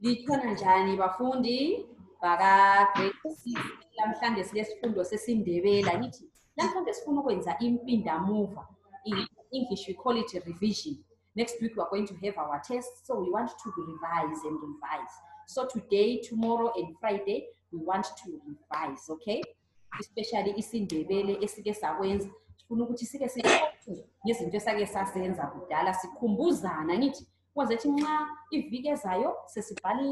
Likhona njani bafundi baka grade 6 namhlanje silesifundo sesiNdebela ngithi namhlanje sifuna ukwenza impindamuva in English we call it a revision next week we are going to have our test so we want to revise and revise so today tomorrow and Friday we want to revise okay especially isiNdebele esike sakwenza sifuna ukuthi sike siqoqe ngezinto esake sasenza kudala sikhumbuzana ngithi wazethi nxa iviki ezayo sesibhale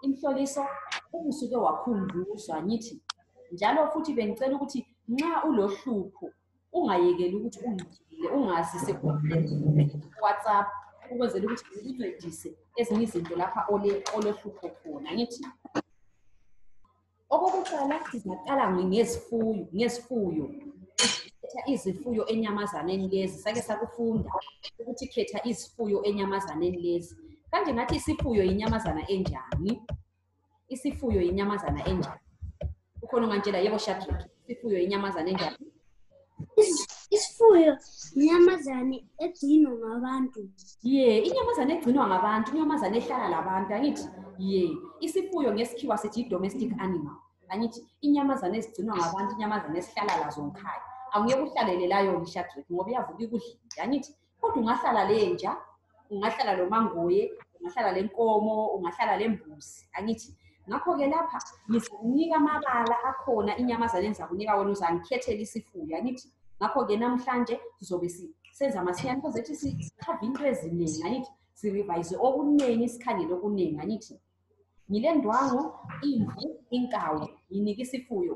imhloliso ubusuke wakhunjuzwa ngithi njalo futhi bengicela ukuthi nxa ulohlupho ungayekeli ukuthi ungxile ungazi sekuwhatsapp ukwenzela ukuthi ngikuncedise ezinye izinto lapha olohlupho khona ngithi Okokuqala sizaqala ngezifuyo, ngezifuyo. Khetha izifuyo enyamazaneni lezi, sake sakufunda ukuthi khetha izifuyo enyamazaneni lezi. Kanje ngathi isifuyo yinyamazana enjani? Isifuyo yinyamazana enjani? Ukhona ongantshela yebo Shadrack. ifuyo inyamazane enjani isifuyo inyamazane egcinwa ngabantu ye inyamazane egcinwa ngabantu inyamazane ehlala labantu angithi ye isifuyo ngesikhiwa sithi i-domestic animal angithi inyamazane ezigcinwa ngabantu inyamazane esihlala lazo ngikhaya angeke uhlalele layo ngishadrek ngoba iyavuka ikudlile angithi kodwa ungahlala lenja ungahlala lo mangoye ungahlala le nkomo ungahlala le mbuzi angithi ngakho-ke lapha ngizakunika amabala akhona inyamazane engizakunika wona uzangikhethela isifuyo angithi ngakho-ke namhlanje sizobe senza masinyane kozethi sikhave into eziningi angithi sirevise okuningi sikhangele okuningi angithi ngile ndwangu imvu inkawu nginika isifuyo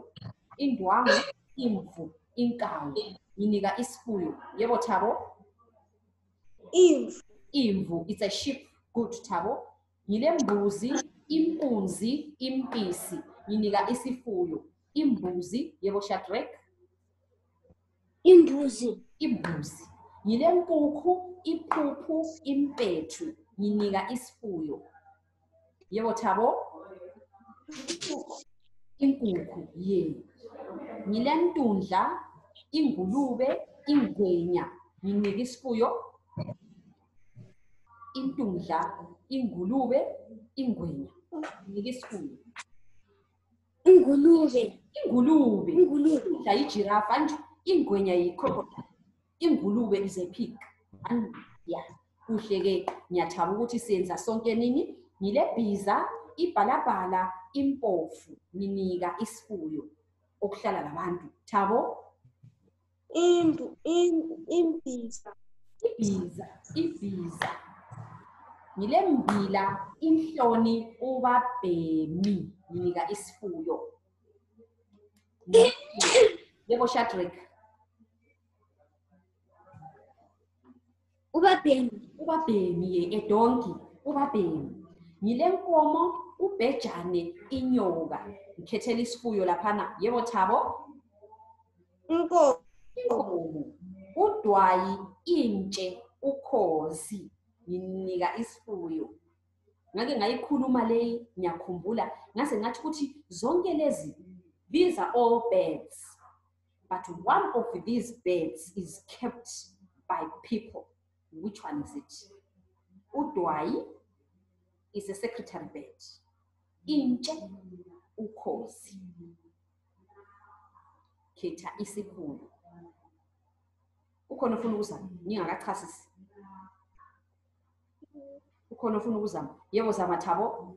indwangu imvu inkawu nginika isifuyo yebo thabo imvu imvu it's a sheep good thabo ngile mbuzi impunzi impisi nginika isifuyo imbuzi yebo shadrack imbuzi imbuzi ngilempukhu iphuphu impethu nginika isifuyo yebo thabo inkukhu ye ngilentundla ingulube ingwenya nginika isifuyo intundla ingulube ingwenya nginika isifuyo ingulube ingulube ingulube udla ijirafa and ingwenya yi-crocodile ingulube is a pig and ya kuhle-ke ngiyathaba ukuthi senza sonke nini ngilebhiza ibhalabhala impofu nginika isifuyo okuhlala labantu thabo Imbu, im, imbiza. Ibiza, ibiza. Ngilembila, inhloni, ubabhemi. Nginika isifuyo. Yebo Shadrack. ubabhemi ubabhemi ye edonki ubabhemi ngilenkomo ubhejane inyoka ngikhethela isifuyo laphana yebo thabo inkomo udwayi intshe ukhozi nginika isifuyo ngake ngayikhuluma leyi ngiyakhumbula ngase ngathi ukuthi zonke lezi these are all birds But one of these birds is kept by people. Which one is it? Udwai is a secretary bird. Inche ukosi. Keta isikhulu. Ukhona ufuna ukuzama? Ningakachasisi. Ukhona ufuna ukuzama? Yebo zama thabo.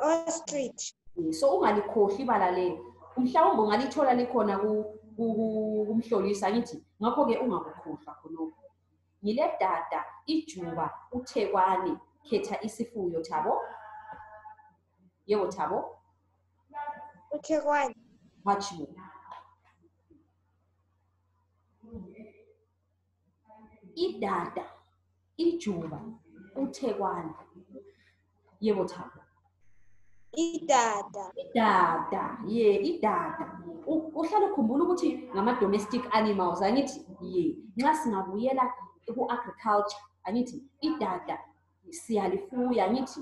Ostrich. So ungalikhohli ibala leli. Mhlawumbe ungalithola likhona ku kumhlolisa ngithi ngakho-ke ungakukhohlwa khonokho ngile dada ijuba uthekwani khetha isifuyo thabo yebo thabo uthekwani hatshi bo idada ijuba uthekwana yebo thabo idada idada ye idada uhlale ukhumbula ukuthi ngama-domestic animals angithi ye nxa singabuyela ku-agriculture angithi idada siyalifuya angithi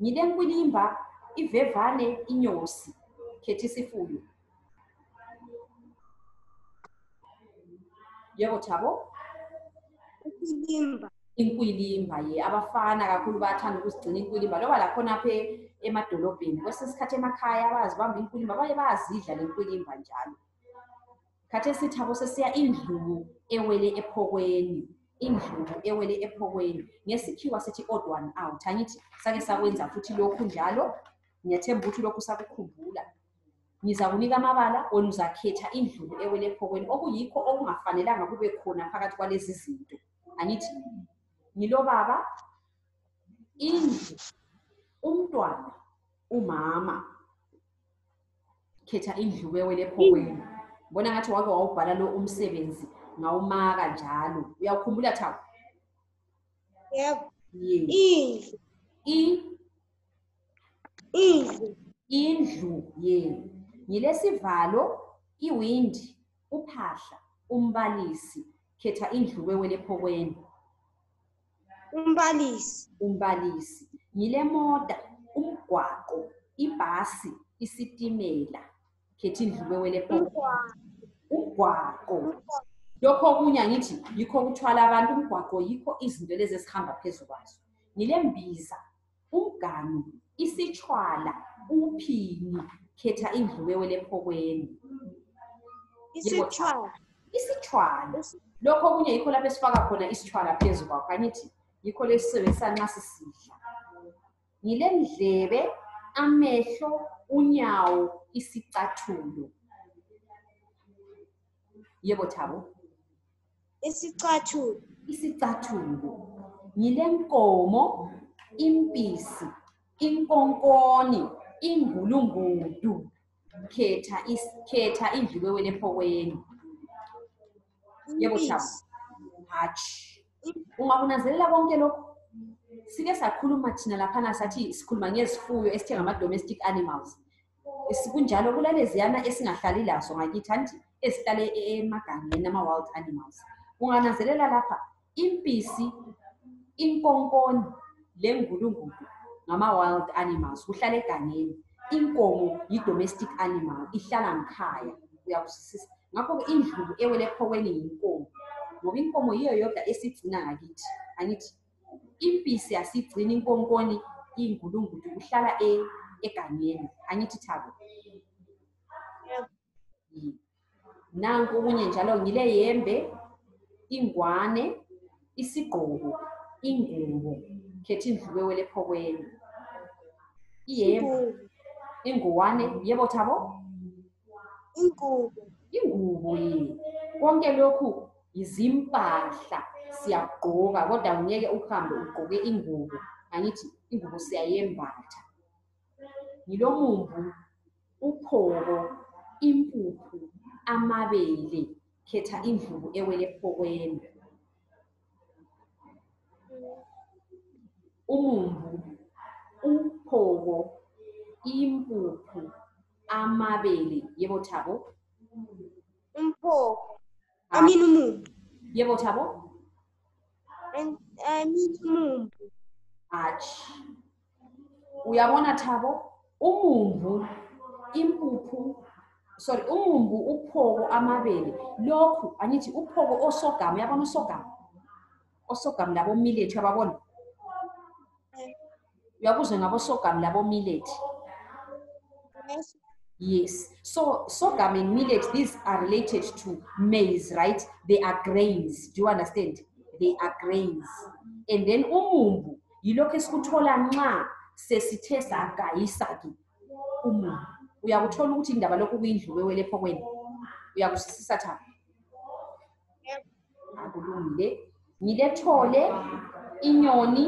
Ngile nkwilimba, ivevane, inyosi, khetisifuyo. Yebo Thabo? Inkwilimba. Inkwilimba, ye. Abafana kakhulu bayathanda ukuzigcina inkwilimba. Loba lakhona apha emadolobheni. Kwesinye isikhathi emakhaya bayazibamba inkwilimba, baye bayazidla le nkwilimba njalo. khathesi thabo sesiya indlubu ewele ephokweni indlubu ewele ephokweni ngesikhiwa sithi odd one out angithi sake sakwenza futhi lokhu njalo ngiyathemba ukuthi lokhu sakukhumbula ngizakunika amabala wena uzakhetha indlubu ewele ephokweni okuyikho okungafanelanga kube khona phakathi kwalezi zinto angithi ngilobaba indlu umntwana umama khetha indlu bewele ephokweni bona ngathi wake wawubhala lo umsebenzi ngawumaka njalo uyawukhumbula thawu yebo indlu indlu indlu ye ngilesivalo iwindi uphahla umbalisi khetha indlu wewele ephokweni Umbalisi. Umbalisi. Ngilemota, umgwaqo, ibhasi, isitimela. Khethi ndlube wele poko. Umgwaqo. Lokho okunye angithi yikho okuthwala abantu umgwaqo yikho izinto lezi esihamba phezu kwazo. Ngilembiza, umganu isitshwala uphini khetha idliwewe lephokweni isitshwala isitshwala lokho okunye yikho lapho esifaka khona isitshwala phezu kwakho angithi yikho lesisebenzisa nxa sisidla ngilendlebe amehlo unyawo isicathulo yebo thabo Isicathulo. Isicathulo. Ngilenkomo, impisi, inkonkoni, ingulungudu. Khetha is khetha indliwewe lephokwenu. Yebo Shabu. Hatshi. Ungakunanzelela konke lokho? Sike sakhuluma thina laphana sathi sikhuluma ngezifuyo esithe ngama domestic animals. kunjalo kulaleziyana esingahlali lazo ngakithi anti esihlale emagangeni ama-wild animals ungananzelela lapha impisi inkonkoni lengulungulu ngama-wild animals kuhlala egangeni inkomo yi-domestic animal ihlala ngikhaya uyakuzwisisa ngakho-ke indlubu ewele ephokweni yinkomo ngoba inkomo yiyo yodwa esigcina ngakithi angithi impisi asigcini inkonkoni ingulungudu uhlala e, egangeni angithi thabo nanku okunye njalo ngile yembe ingwane isigqoko ingubo khetha indlubewe lephokweni iyembe inguwane yebo thabo ingubo ingubo yini konke lokhu yizimpahla siyagqoka kodwa ngeke uhambe ugqoke ingubo angithi ingubo siyayembatha ngilomumbu uphoko impuphu amabele khetha indlubu ewele phokweni umumbu uphoko impuphu amabele yebo thabo umphoko Aminu mu. Yebo thabo. And Aminu mu. Ach. Uyabona thabo umumbu impuphu sorry umumbu uphoko amabele lokhu angithi uphoko osogama yabona usogama osogamu labomilethi uyababona uyakuzwe ngabosogamu labomilethi yes so sorghum and millet these are related to maize right they are grains do you understand they are grains and then umumbu yilokhu esikuthola nxa sesithe sagayisa-ke umumbu uyakuthola ukuthi indaba lokhu kuyindlu wewelepho kwenu uyakuzwisisa thaba akulungile ngilethole inyoni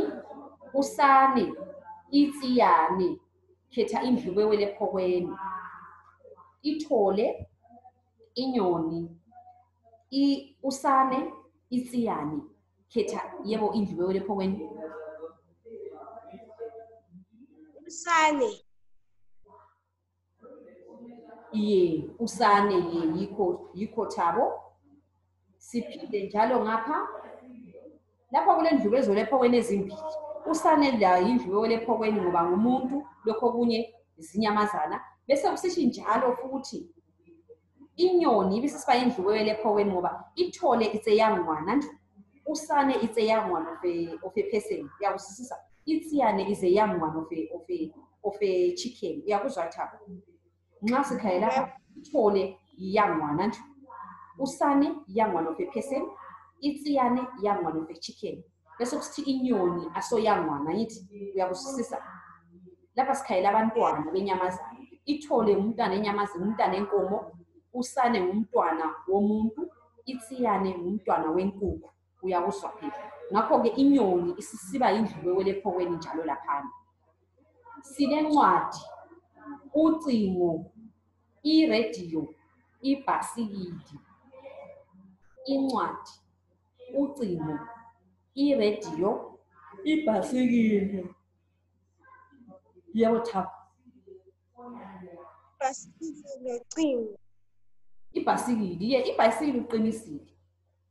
usane itsiyane khetha indlu bewele phokweni ithole inyoni i usane itsiyane khetha yebo indlu bewele phokweni usane iye usane ye yikho yikho thabo siphinde njalo ngapha lapha kulendlu bezole ephokweni ezimbili usane la yindlu bewole ephokweni ngoba ngumuntu lokho okunye zinyamazana bese kusithi njalo futhi inyoni ibisisiba indlubo yelephoweni ngoba ithole it's a young one and usane it's a young one of a, of a person uyakuzwisisa itsiyane is a young one of a, of a, of a chicken uyakuzwa thaba nxa sikhaye lapha ithole young one and usane young one of a person itsiyane young one of a chicken bese kusithi inyoni asoyangwana yithi uyakusisisa lapha sikhayela abantwana benyamazana ithole ngumntwana enyamazini umntwana enkomo usane ngumntwana womuntu itsiyane ngumntwana wenkukhu uyakuzwa phela ngakho-ke inyoni isisiba yindlubewele ephokweni njalo laphana silencwadi ucingo irediyo ibhasikidi incwadi ucingo, iradio, ibhasikili yewothapu. Ibhasikili locingo. Ibhasikili, ye, ibhasikili uqinisile.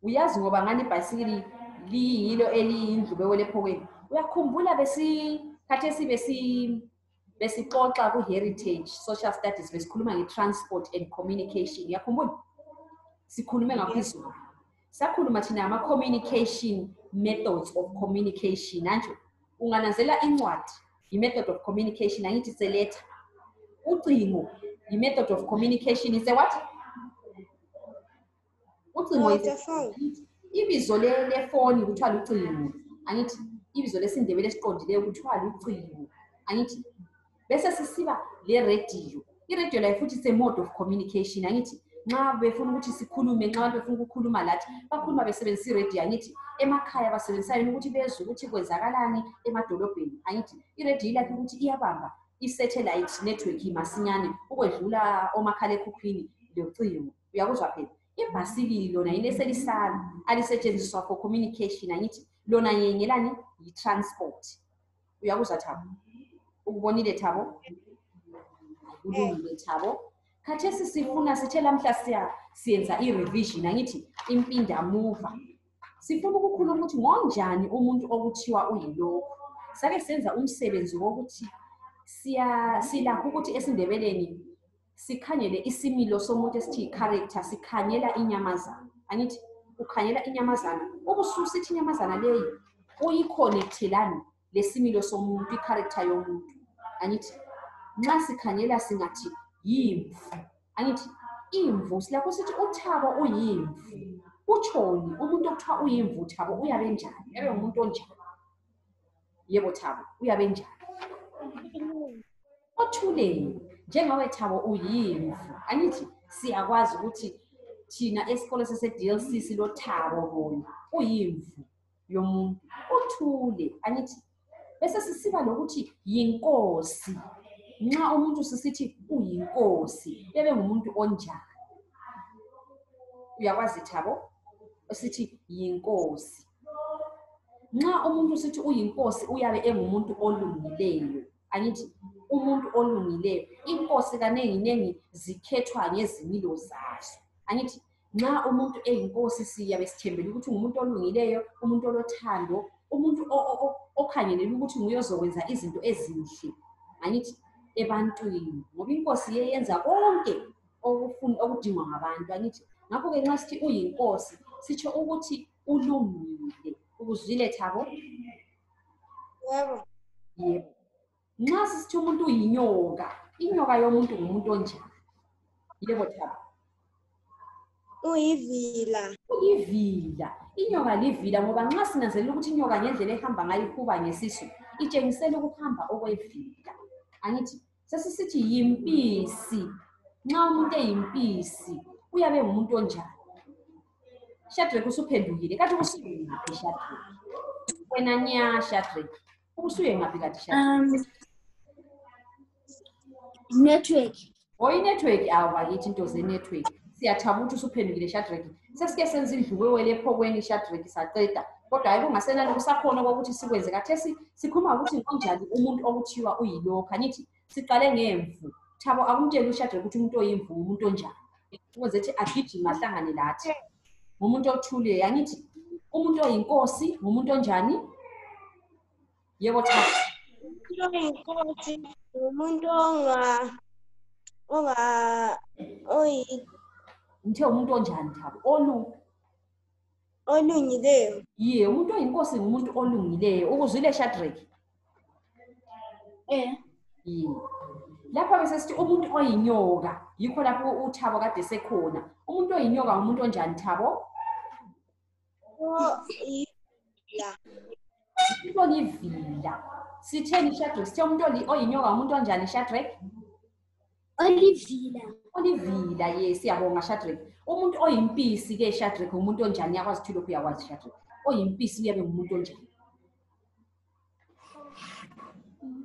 Uyazi ngoba ngani ibhasikili liyilo eliyindlu bewelephokweni. Uyakhumbula besi khathesi besi besixoxa ku-heritage social studies besikhuluma nge-transport and communication yakhumbula sikhulume ngakho izulu sakhuluma thina ngama-communication methods of communication anjo ungananzela incwadi yi-method of communication angithi seletha ucingo yi-method of communication ise what ucingo ibizo lefoni kuthiwa lucingo angithi ibizo lesindebele esiqondileyo kuthiwa lucingo angithi bese sisiba lerediyo irediyo layo futhi se mode of communication angithi nxa befuna ukuthi sikhulume nxa abantu befuna ukukhuluma lathi bakhuluma besebenzisa irediyo angithi emakhaya basebenzisa yona ukuthi bezwe ukuthi kwenzakalani emadolobheni angithi irediyo ilakhe ukuthi iyabamba i-satellite network masinyane ukwedlula omakhalekhukhwini locingo uyakuzwa phela ibhasikili lona yini eselisala alisetshenziswa for communication angithi lona yengelani yi-transport uyakuzwa thabo ukubonile thabo kulungile thabo khathesi sifuna sithe lamhla siyenza i-revision angithi impindamuva sifuna ukukhuluma ukuthi ngonjani umuntu okuthiwa uyilokhu sake senza umsebenzi wokuthi silakho ukuthi esindebeleni sikhangele isimilo somuntu esithi yi-character sikhangela inyamazana angithi ukhangela inyamazana ubususithi inyamazana leyi uyikhonektelani lesimilo somuntu i-character yomuntu angithi nxa sikhangela singathi yimvu angithi imvu silakho sithi uthabo uyimvu utshoni umuntu okuthiwa uyimvu uthabo uyabe njani ebe ngumuntu onjani yebo thabo uyabe njani othuleni njengawe thabo uyimvu angithi siyakwazi ukuthi thina esikolo sese-dlc silothabo bona uyimvu yomuntu uthule angithi bese sisiba lokuthi yinkosi nxa umuntu sisithi uyinkosi ebe ngumuntu onjani uyakwazi thabo esithi yinkosi nxa umuntu sithi uyinkosi uyabe engumuntu olungileyo angithi umuntu olungileyo inkosi kanenginengi zikhethwa ngezimilo zazo angithi nxa umuntu eyinkosi siyabe sithembele ukuthi ngumuntu olungileyo umuntu olothando umuntu okhangelele ukuthi nguye ozokwenza izinto ezinhle angithi ebantwini ngoba inkosi yeyenza konke okudingwa ngabantu angithi ngakho-ke nxa sithi uyinkosi sitsho ukuthi ulungile ukuzwile thabo yebo yebo nxa sisithi umuntu uyinyoka inyoka yomuntu ngumuntu onjani yebo thabo uyivila uyivila inyoka livila ngoba nxa sinanzelela ukuthi inyoka ngendlela ehamba ngayo ihuba ngesisu itshengisela ukuhamba okwevila angithi Sesisithi yimpisi. Nxa umuntu eyimpisi uyabe ngumuntu onjani? Shadrach usuphendukile. Kathi usuye ngaphi Shadrach? Wena nya Shadrach. Usuye ngaphi kathi Shadrach? Um, network. Oyi network awu bakithi into ze network. Siyathabuthi usuphendukile Shadrach. Sesike senza indlu wewele ephokweni iShadrach saqeda. Kodwa hayibo ngasenani kusakhona okokuthi sikwenze kathesi sikhuluma ukuthi ngonjani umuntu okuthiwa uyilokho angithi siqale ngemvu. Thabo akumtsheli uShadrach ukuthi umuntu oyimvu umuntu onjani. Ukwenze ukuthi agijime ahlangane lathi. Ngumuntu othule angithi umuntu oyinkosi ngumuntu onjani? Yebo cha. Inkosi umuntu onga onga oyi ngithe umuntu onjani thabo onu olungileyo ye umuntu oyinkosi ngumuntu olungileyo ukuzwile shadraki um ye lapha besesithi umuntu oyinyoka yikho lapho uthabo kade sekhona umuntu oyinyoka ngumuntu onjani thabo Olivia. Olivia. Sitheni Shadrach, sithe umuntu oyinyoka umuntu onjani Shadrach? Olivia. Olivia, yes, siyabonga Shadrach. Umuntu oyimpisi ke Shadrach umuntu onjani yakwazi ukuthi lokhu yakwazi Shadrach. Oyimpisi uyabe ngumuntu onjani?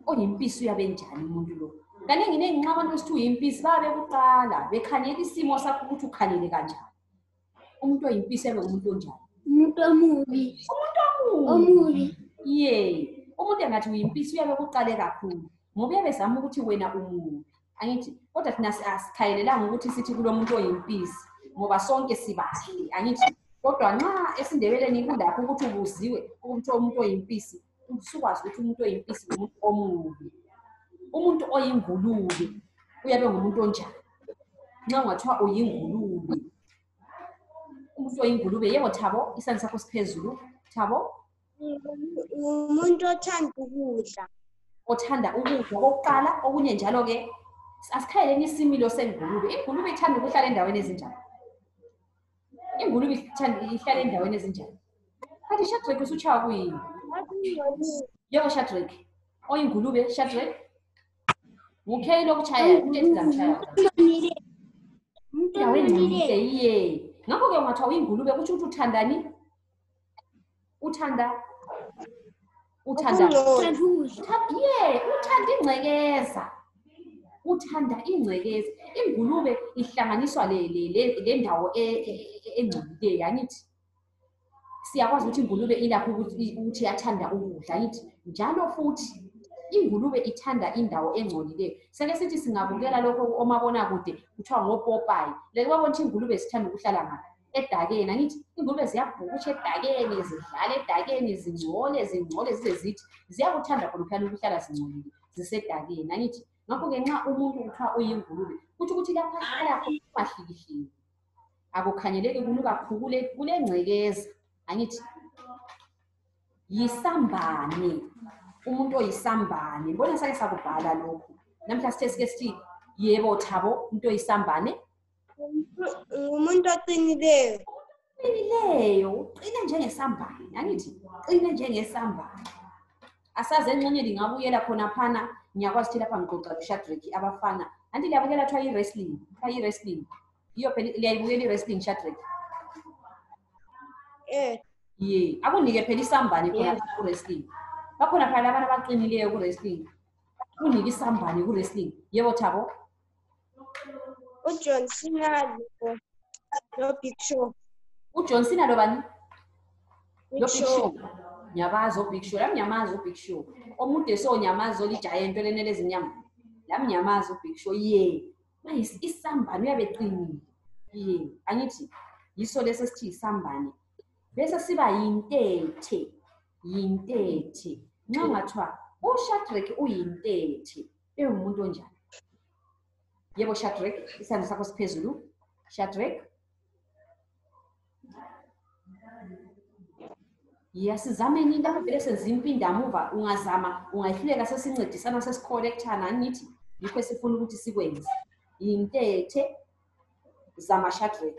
Oyimpisi uyabe njani umuntu lo? Kaningi ningi nxa abantu esithi uyimpisi babe kuqala bekhangela isimo sakho ukuthi ukhalele kanjani. umuntu oyimpisi abe umuntu onjani umuntu omubi umuntu omubi omubi ye umuntu engathi uyimpisi uyabe kuqale kakhulu ngoba uyabe zama ukuthi wena umubi angithi kodwa thina asikhayelelanga ukuthi sithi kulo muntu oyimpisi ngoba sonke sibahle angithi kodwa nxa esindebeleni kulapho ukuthi ubuziwe ukuthi umuntu oyimpisi sikwazi ukuthi umuntu oyimpisi ngumuntu omubi umuntu oyingulube uyabe ngumuntu onjani nxa ungathiwa uyingulube umuntu oyingulube yebo thabo isandla sakho siphezulu thabo ngumuntu othanda ukudla othanda ukudla kokuqala okunye njalo-ke asikhaleleni isimilo sengulube ingulube ithanda ukuhlala endaweni ezinjani ingulube ithanda- ihlala endaweni ezinjani kanti shadrack usutshaya kuyini yebo shadrack oyingulube shadrack ngukheyi lokutshayayo into ethi zamtshayayo endaweni engcolileyo iye ngakho-ke ungathiwa uyingulube kutsho ukuthi uthandani uthanda uthanda ye uthanda ingcekeza uthanda ingcekeza ingulube ihlanganiswa lendawo e, e, e, engcolileyo angithi siyakwazi ukuthi ingulube ilakho ukuthi yathanda ukudla angithi njalo futhi ingulube ithanda indawo engcolileyo seke sithi singabukela lokho omabonakude kuthiwa ngopopayi leke babona ukuthi ingulube zithanda ukuhlala ngaphi edakeni angithi ingulube ziyabhukutsha edakeni zidlala edakeni zingcole zingcole zize zithi ziyakuthanda khonophana ukuhlala zingcolile zisedakeni angithi ngakho-ke nxa umuntu kuthiwa uyingulube kutsho ukuthi lapha hlala ungahlikihliki akukhangeleki kunuka khukule kulengcekeza angithi yisambane umuntu oyisambane mbona sake sakubhala lokhu namhla sithe sike sithi yebo thabo umuntu oyisambane umuntu oqinileyo oqinileyo uqina njengesambane angithi uqina njengesambane asazi enxenye lingabuyela khonaphana ngiyakwazi ukuthi lapha ngixoxa kushadrack abafana anti liyabukela kuthiwa i-wrestling kuthiwa i-wrestling yiyo phela liyayibukela i-wrestling shadrack eh. ye akunike phela isambane khonaphana ku-wrestling bakhona phela labana abaqinileyo ku-wrestling kunike isambane ku-wrestling yebo thabo ujohn cena lo- lobig show ujohn cena lobani Big lobig Show. show ngiyabazi obig show lami ngiyamazi ubig show omude so ngiyamazi olijaye into lenele ezinyama lami ngiyamazi ubig show ye bayis- isambane uyabe eqinile ye angithi yiso lesi esithi yisambane bese siba yintethe yintethe nxa ungathiwa ushadrack uyintethe iwumuntu onjani yebo shadrek isandla sakho siphezulu shadrek ya sizameni into vele senza impindamuva ungazama ungahluleka sesincedisana sesikhorethana angithi yikho esifuna ukuthi sikwenze yintethe zamashadrek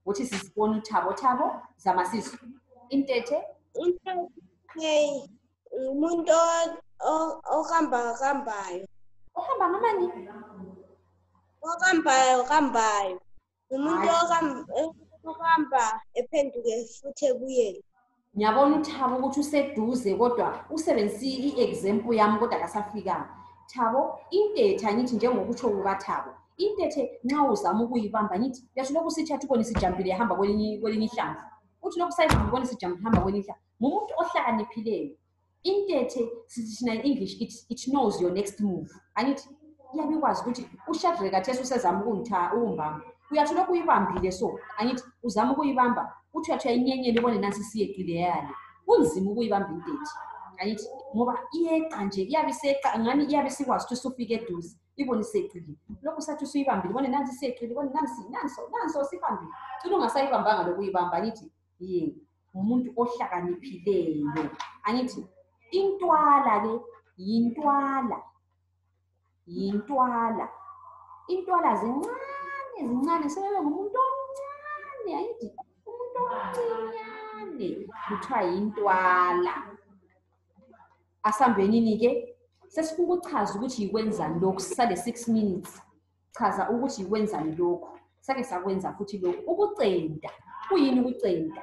ukuthi sizibone uthabothabo zama sisu intethe umuntu ohamba kambayo ohamba ngamani okambayo kambayo umuntu okamba ephenduke futhi ebuyele ngiyabona uthabo ukuthi useduze kodwa usebenzise i-example yami kodwa kasafikanga thabo intetha ngithi njengokutsho kukathabo intethe nxa uzama ukuyibamba ngithi yathi lokhu sithi athi ubona isijampile yahamba kwelinye ihlamvu uthi lokhu sayihamba ubona isijampile ihamba kwelinye ihlamvu ngumuntu ohlakaniphileyo intethe sithina english it, it knows your next move angithi iyabe ikwazi ukuthi ushadrake athesi usezama ukumbamba uyathi lokhu uyibambile so angithi uzama ukuyibamba uthi uyathi uyayinyenyela ibone nansi siyeqile yale kunzima ukuyibamba intethe angithi ngoba iyeqa nje iyabe iseqa ngani iyabe isikwazi ukuthi usufike eduze ibone iseqile lokhu sathi usuyibambile ibone nansi siyeqile ibone nansi nanso nanso sibambile cina ungasayibambanga lokuyibamba angithi ye yeah. ngumuntu ohlakaniphileyo angithi intwala ke yintwala yintwala intwala zincane zincane sebebe ngumuntu omncane angithi umuntu omncinyane kuthiwa yintwala asambenini ke sesikukuchaza ukuthi yikwenzani lokhu sisale six minutes chaza ukuthi wenzani lokhu sake sakwenza futhi lokhu ukucenta kuyini ukucenta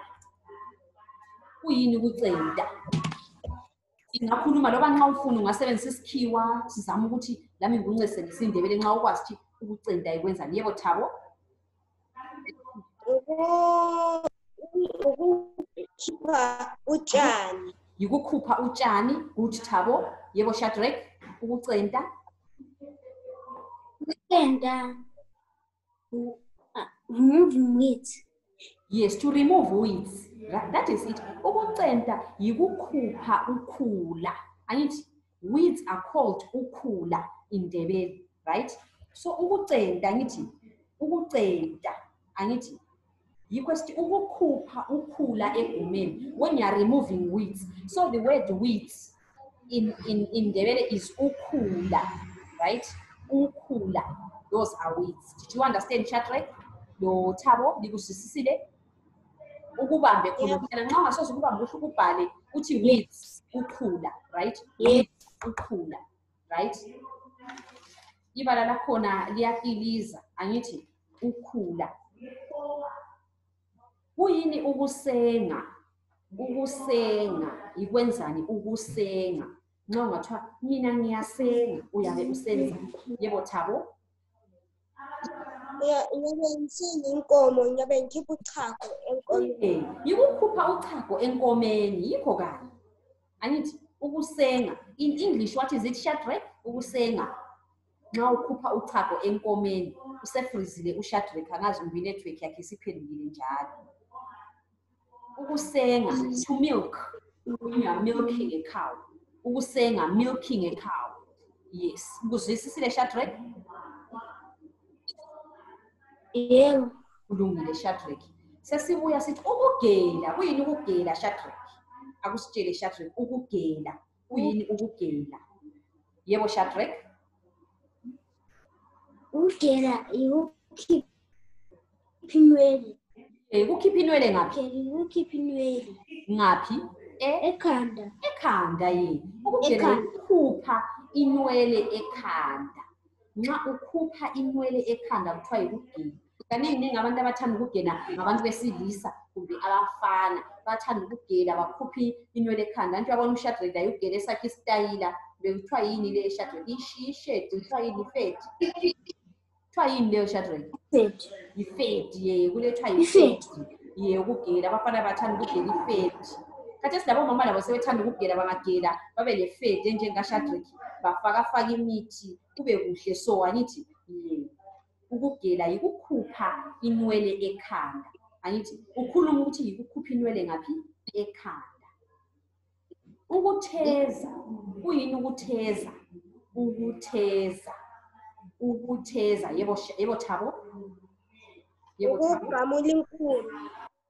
kuyini ukucenta singakhuluma loba nxa ufuna ungasebenzisa isikhiwa sizama ukuthi lami ngikuncesenise indebele nxa ukwazi ukuthi ukucenta yikwenzani yebo thabo Uku- Ukukhipha utshani. yikukhupha utshani good thabo yebo shadrack ukucenta Ukupenda. u- ah, Remove weeds. yes to remove weeds Ra- that is it ukucenta yikukhupha ukhula angithi weeds are called ukhula in Ndebele, right? So ukucenta angithi ukucenta angithi yikho sithi ukukhupha ukhula egumeni when you are removing weeds so the word weeds in, in, in ndebele is ukhula right ukhula those are weeds did you understand shadrack lo thabo likuzwisisile ukubambe khuluphela nxa ungasoze ukubambe uhle ukubhale uthi weeds ukhula right yes ukhula right ibala lakhona liyakiliza angithi ukhula kuyini ukusenga ukusenga yikwenzani ukusenga nxa ungathiwa mina ngiyasenga uyabe usenza yebo thabo Iya- Iyabe ngisenga inkomo, ngiyabe ngikhipha uchago enkomeni. Eh, yikukhupha uchago enkomeni yikho kanye angithi ukusenga in english what is it shadrack ukusenga nxa ukhupha uchago enkomeni usefrizile ushadrack angazi kumbe inetwork yakhe isiphendukile njalo ukusenga to milk when you are milking a cow ukusenga milking a cow yes ukuzwisisile shadrack yebo kulungile shadrack sesibuya sithi ukugela kuyini ukugela shadrack akusitshele shadrack ukugela uyini ukugela yebo shadrek ukugela yikukhipha inwele Eh, kukhipha inwele ngaphi kukhipha inwele ngaphi E- ekhanda ekhanda yini ukugela Ekhanda. yikukhupha inwele ekhanda nxa ukhupha inwele ekhanda kuthiwa yikugela kaningi ningi abantu abathanda ukugena ngabantu besilisa kumbe abafana bathanda ukugela bakhuphe inwele ekhanda anti uyabona ushadreda yokugela esakhe isitayila bekuthiwa yini le shadreda ishishedi kuthiwa yini ifedi kuthiwa yini leyo shadreda ifedi ye kulethiwa yifedi ye ukugela abafana bathanda ukugela ifedi khathi esilabomama labo sebethanda ukugela bangagela babe lefedi enjengashadreki bafakafaka imithi kube kuhle so angithi ye ukugela yikukhupha inwele ekhanda angithi ukhuluma ukuthi yikukhupha inwele ngaphi ekhanda ukutheza kuyini ukutheza ukutheza ukutheza yebo yebo thabo yebo thabo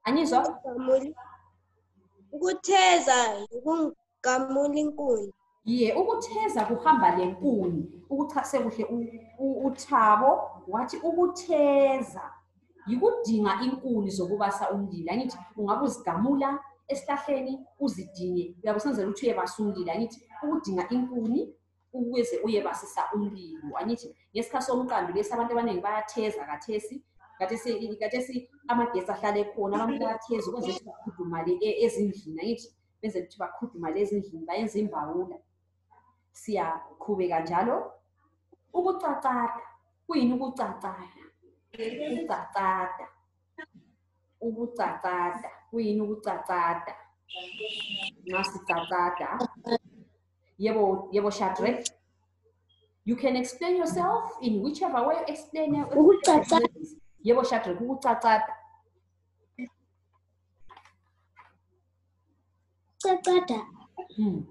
Angizwa? Ukungamuli- Ukutheza yikungamula inkuni. Ye, ukutheza kuhamba lenkuni. Ukuchase kuhle u- u- uthabo wathi ukutheza yikudinga inkuni zokubasa umlilo. Angithi ungabe uzigamula esihlahleni uzidinge uyabe usenzela ukuthi uyebasa umlilo. Angithi ukudinga inkuni ukuze uyebasisa umlilo angithi ngesikhathi somqando lesi abantu abaningi bayatheza kathesi kathesi kathesi amagesi ahlala ekhona abantu bayatheza ukwenza ukuthi bakhudumale e, ezindlini angithi benze ukuthi bakhudumale ezindlini bayenza imbawula siyaqhubeka njalo ukucacada kuyini ukucacada ukucacada ukucacada kuyini ukucacada nxa sicacada Yebo, yebo Shadrach. You can explain yourself in whichever way you explain. Yebo Shadrach, ukucacata. Cacata. Hmm.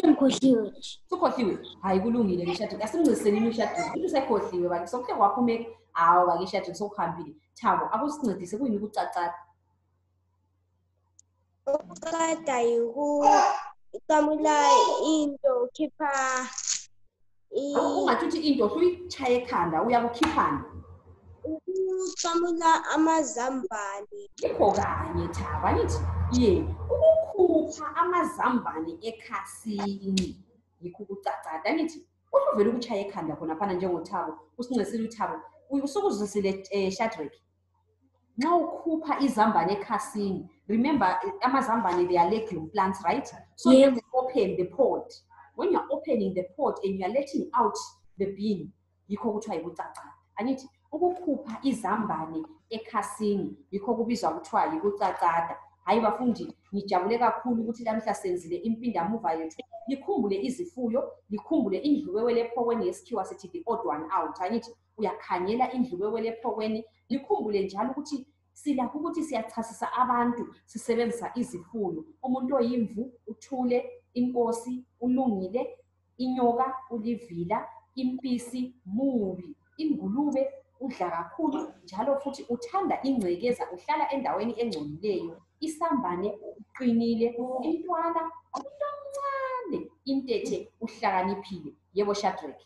Ngikhohliwe. Sukhohliwe. Hayi kulungile ke Shadrach. Asimnciseni ni Shadrach. Into sekhohliwe bakithi. Sokuhle waphumeka. Hawu bakithi Shadrach sokuhambile. Thabo, akusincedise kuyini ukucacata. Ukuqeda yikuqamula into ukhipha ungathi uthi into suyitshaye ekhanda uyakukhiphani ukuqamula amazambane yikho kanye thaba nithi ye ukukhupha amazambane ekhasini yikho ukucacada nithi usuvele ukutshaya ekhanda khonaphana njengothabo usincesile uthabo usukuzwisile um eh, shadrek nxa ukhupha izambane ekhasini remember amazambane they are legume plants right so yes. you open the pot when you're opening the pot and you're letting out the bean yikho kuthiwa yikucaca angithi ukukhupha izambane ekhasini yikho kubizwa kuthiwa yikucacada hhayi bafundi ngijabule kakhulu ukuthi lamhla senzile impindamuva yethu likhumbule izifuyo likhumbule indluwewe lephokweni yesikhiwa sithi the odd one out angithi uyakhangela indlu kwekwele ephokweni likhumbule njalo ukuthi silakho ukuthi siyachasisa abantu sisebenzisa izifuyo umuntu oyimvu uthule inkosi ulungile inyoka ulivila impisi mubi ingulube udla kakhulu njalo futhi uthanda ingcekeza uhlala endaweni engcolileyo isambane uqinile intwana umntu omncane intethe uhlakaniphile yebo shadrake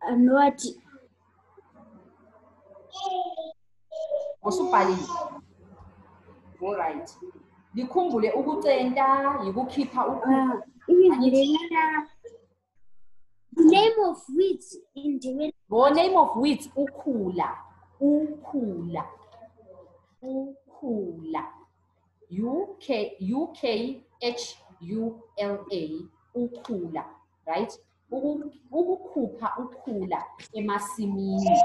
Amewati. Usubhalile. All right. Likhumbule ukucenta yikukhipha ukhulu. Ibizilelana. The name of wheat in the Bo name of wheat ukhula. Ukhula. Ukhula. UK, UKHULA, ukhula, right? Ukukhupha ukhula emasimini,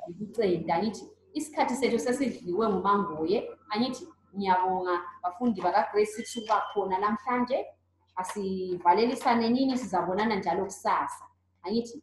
ukuceda, ngithi isikhathi sethu sesidliwe ngumangoye, angithi ngiyabonga bafundi bakaGrace ukuthi uba khona namhlanje, asivalelisane nini sizabonana njalo kusasa, angithi